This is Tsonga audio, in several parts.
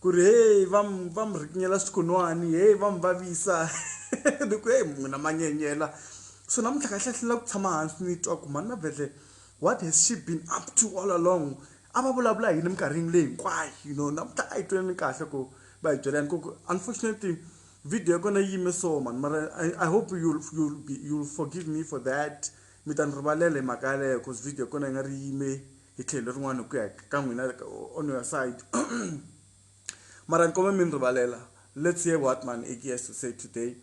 ku ri heyi va mi va mi rhikinyela swikunwani heyi va mi vavisa ni ku heyi munhu a ma nyenyela so namuntlha kahle hlula ku tshama hansi ni twa ku mhani mavhele what has she been up to all along a va vulavula yini minkarhini leyi hinkwayo you know namuntlha a yi tweni kahle ku va hi byela yani ku unfortunately video ya kona yi yime so mani mara i hope you'll, you'll, be, you'll forgive me for that mi ta ni rivalela hi mhaka yaleyo cause video ya kona yi nga ri yime hi tlhelo rin'wana ku ya ka n'wina on your side mara ni kome mi ni rivalela let's hear what man aki has to say today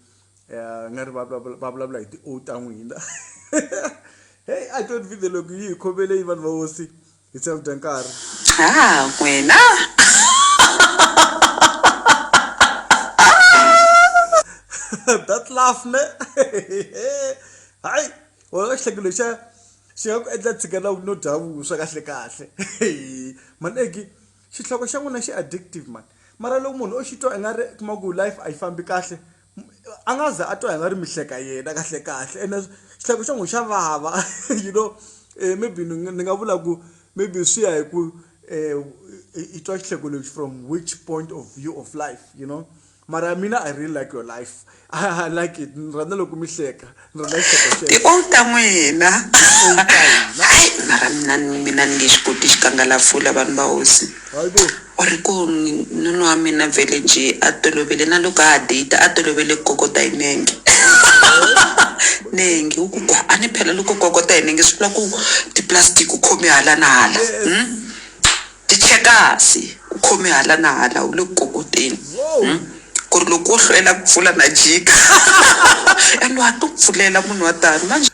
um nga ri va vulavula hi ti-o ta n'wina hey i don't video loko yi hi khomele yi vanhu va hosi hi tseva dya nkarhi a wena that laugh ne hayi wena xihlekelo xa xi nga ku endla tshikela no dya vuswa kahle kahle mani egg xihloko xa n'wina xi addictive mani mara loko munhu o xi twa i nga ri kuma ku life a yi fambi kahle a nga za a twa hi nga ri mi hleka yena kahle kahle ene xihloko xa n'wina xa vava you know maybe ni ni nga vula ku maybe swi ya hi ku i twa xihloko lexi from which point of view of life you know. mara mina i really like your life i like it ni rhandza loko mi hleka ni rhandza xisekexekeonta n'wina hayi mara mina mina ni nge xi koti xikangalafula vanhu va hosi u ri ku nunu wa mina vhele njhe a tolovele na loko a date a tolovele ku kokota hi nenge nenge u ku a ni phela loko kokota hi nenge swi vula ku tiplastic u khome hala na hala hmm? Tichekasi, U khome hala na hala, u le ku kokoteni ku ri loko wo hlwela ku pfula na jika. And wa ha to pfulela munhu wa tano manjhe.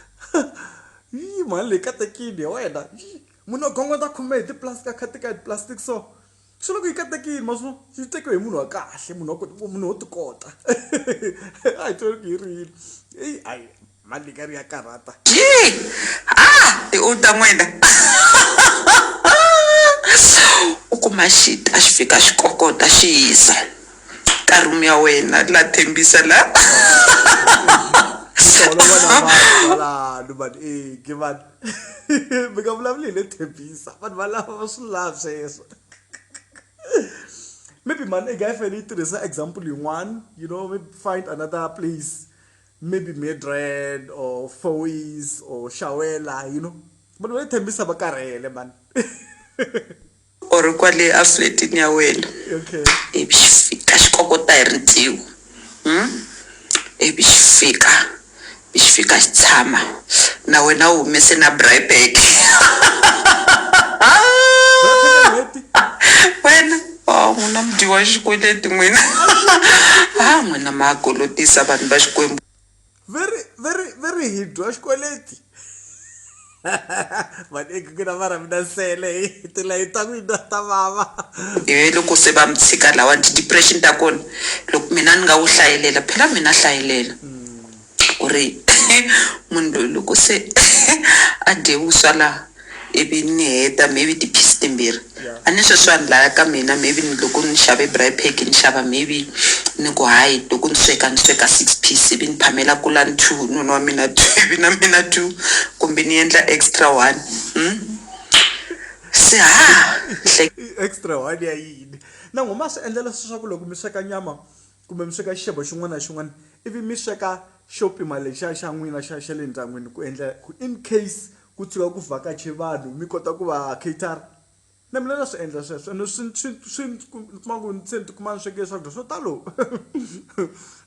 Yii mhani leyi katekini ya wena yii munhu a gongondza khume hi tiplastic a khatika hi tiplastic so swi loko yi katekini ma swo yi tekiwe hi munhu wa kahle munhu wa ku munhu wo ti kota a hi twela ku yi ri yini eyi hayi. Malikari ya karhata. Yii! Haa! I u ta n'wina! U kuma xi ta xi fika xi kokota xi hisa ka room ya wena la Thembisa la. Ku holova na vanhu valano mani eeh mani mi nga vulavuli hi le Thembisa vanhu valava va swi lavi sweswo. Maybe mhani i nga yi fanele yi tirhisa example yin'wana you know maybe find another place. maybe Midrand or Foiz or Shawela you know vanhu va le Tembisa va karhele man u ri kwale a fletini ya wena okay ivi xi fika xi kokota hi rintiho um ivi xi fika ivi xi fika xi tshama na wena u humese na braai bag Braai pack ya n'hweti wena Wawu n'wina mi dyiwa xikweleti n'wina ha n'wina ma ha kolotisa vanhu va Xikwembu. Very very very hi dyiwa xikweleti vaaki ku na mara mina nsele hi tilayeni ta n'wina ta vava. He loko se va mi tshika lawani ti depression ta kona loko mina ni nga wu hlayelela phela mina hlayelela. ku ri munhu loyi loko se a dye vuswa laha ivi ni heta maybe ti-piece timbirhi a ni sweswi vanhu laya ka mina maybe ni loko ni xave braai pack ni xava maybe ni ku hayi loko ni sweka ni sweka six piece ivi ni phamela kulani two hi nuna wa mina two ivi na mina two kumbe ni endla extra one se ha extra one ya yini na n'wina ma swi endla leswaku loko mi sweka nyama Kumbe mi sweka xixevo xin'wana na xin'wana ivi mi sweka xo pima lexiya xa n'wina xa xa le ndyangwini ku endla ku in case ku tshuka ku vhakache vanhu mi kota ku va cater-a. Na mina na swi endla sweswo ene swi swi swi ndzi ku ndzi kuma ku ni se ni tikuma ni sweke swakudya swo talo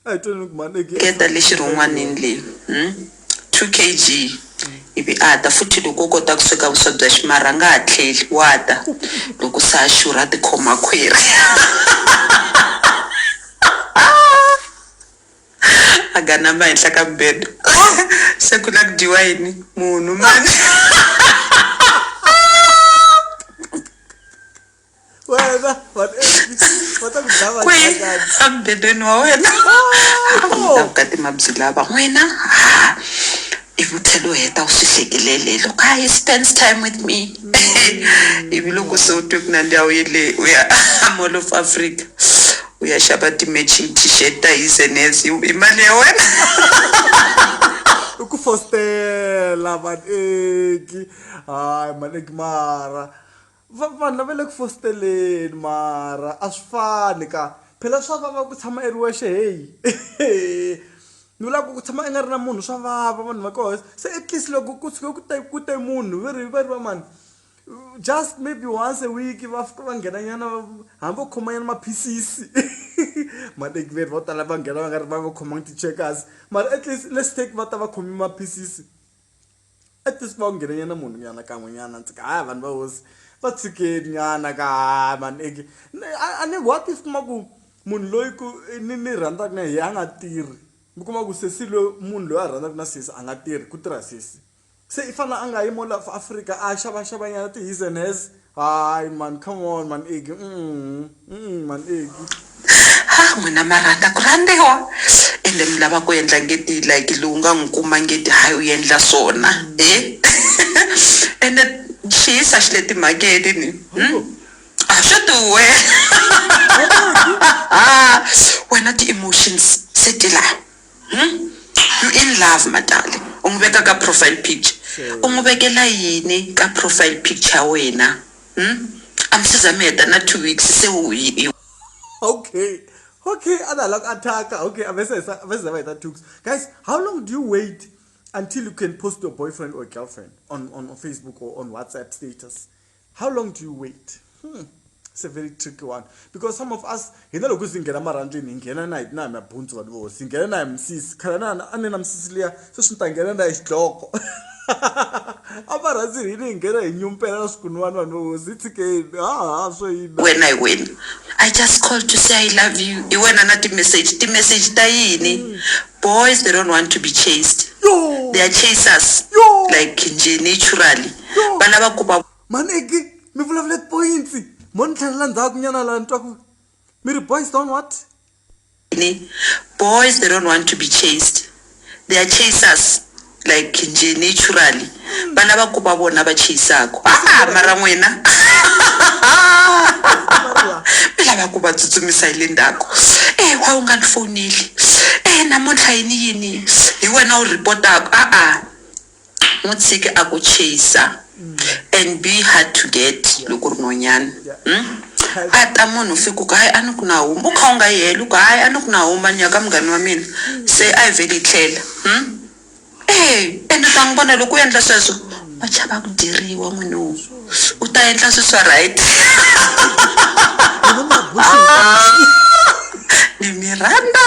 a hi tweni ni ku mhani. Ringeta le xirhon'wanini leyi. 2 kg ivi a ta futhi loko u kota ku sweka vuswa bya ximarha a nga ha tlheli wa ta loko se a xurha a tikhoma khwiri a ganama henhla ka mbedo se ku na ku dyiwa yini munhu mani wena kwi amubedweni wa wena vukati mabyi lava n'wina ha ivi u tlhela u heta u swi hlekelele loko a he spends time with me ivi loko se u twe ku nandiya u yele u ya mall of africa u ya xava ti-matching t-shirt ta his and hers hi hi mali ya wena i ku fostela vaneki hayi maneki mara Va vanhu lava le ku fositaleni mara a swi fani ka phela swa vava ku tshama i ri wexe heyi ni vula ku ku tshama i nga ri na munhu swa vava vanhu va koho se at least loko ku tshuke ku te ku te munhu va ri va ri va mani just maybe once a week va fika va nghena nyana va hambi vo khoma nyana maphilisi matekiveri vo tala va nghena va nga ri va nga khomangi ti-checkers mara at least let's take va ta va khome maphilisi at least va wu nghene nyana munhu nyana kan'we nyana ndzi ka haya vanhu va hosi va tshikeni nyana ka haya mani eke a ni what if kuma ku munhu loyi ku ni ni rhandzaka na yehe a nga tirhi mi kuma ku sesi loyi munhu loyi a rhandzaka na sesi a nga tirhi ku tirha sesi se i fanele a nga yi mo la afrika a xavaxava nyana ti-his and hers. Hi man, come on man Iggy. Mm, mm, man Iggy. ha n'wina ma rhandza ku rhandziwa ende mi lava ku endla ngeti like lowu nga n'wi kuma ngeti hayi u endla swona e ende xiyisa xi le timhakeni ni hmm? a swi duwe wena ti-emotions se ti laha I'm in love Matali u n'wi veka ka profile picture u n'wi vekela yini ka profile picture ya wena a mi se za mi heta na two weeks se u okay okay a na la ku attack-a okay a se a va se za va heta two weeks guys how long do you wait until you can post your boyfriend or girlfriend on on facebook or on whatsapp status how long do you wait hmm. it's a very tricky one because some of us hina loko si nghena marhandleni hi nghena na hi na hi mabundzu vanhu vo si nghena na hi misisi khale na a ni na misisi liya se swi ni ta nghena na hi xidloko a va rhandzi hini hi nghena hi nyumpela na swikunwani vanhu vo hosi tshikeni haha swo yini wena hi wena i just call to say i love you hi wena na ti-message ti-message ta yini hmm. boys they don't want to be chased they are chasers like nje naturally va lava ku va maneki mi vulavula tipoyintsi mo ni tlhelela ndzhaku nyana laha ni twa ku mi ri boys don't what boys they don't want to be chased they are chasers like nje naturally va lava ku va vona va chasaku a mara n'wina mi lava ku va tsutsumisa hi le ndzhaku e wa u nga ni fowuneli e namuntlha yini yini hi wena u rhipotaka a-a N'wi tshiki a ku chase and be hard to get loko u ri nhwanyana. Umm a ta munhu fika u ku hayi a ni ku na huma u kha u nga yi helo u ku hayi a ni ku na huma ni ya ka munghana wa mina se a yi vheli yi tlhela umm eeh ende u ta n'wi vona loko u endla sweswo wa chava ku dyeriwa munhu wo u ta endla swilo swa right ni mi rhandza.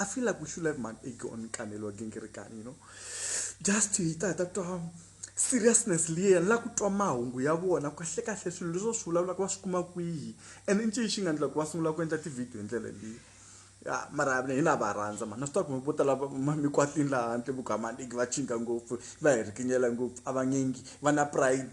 I feel like we should have man ego on Kanelo again, Kirikani, you know. Just to hit that um, seriousness liya la ku twa mahungu ya vona kahle kahle swilo leswo swi vulavulaka va swi kuma kwihi and i ncini xi nga ndlela ku va sungula ku endla tivhidiyo hi ndlela leyi ya mara hi na va rhandza mani na swi tiva ku mi vo tala mikwatini laha handle vugamaniki va chinga ngopfu va hi rikinyela ngopfu a va ngengi va na pride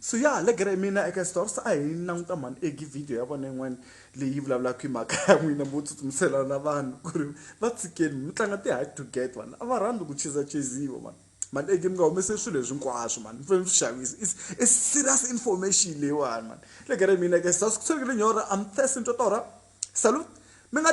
so ya le gere mina eka stores a hi languta mhani egi video ya vona yin'wana leyi vulavulaka hi mhaka ya n'wina mo tsutsumisela na vanhu ku ri va tshikeni mi tlanga ti-hard to get vanhu a va rhandzi ku chizachiziwa vanhu mani egi mi nga humese swilo leswi hinkwaswo mani mi fanele mi swi xavisa is i serious information leyiwani mani le gere mina eka stores ku tshwekile nyora am thirsty ni twa torha salute mi nga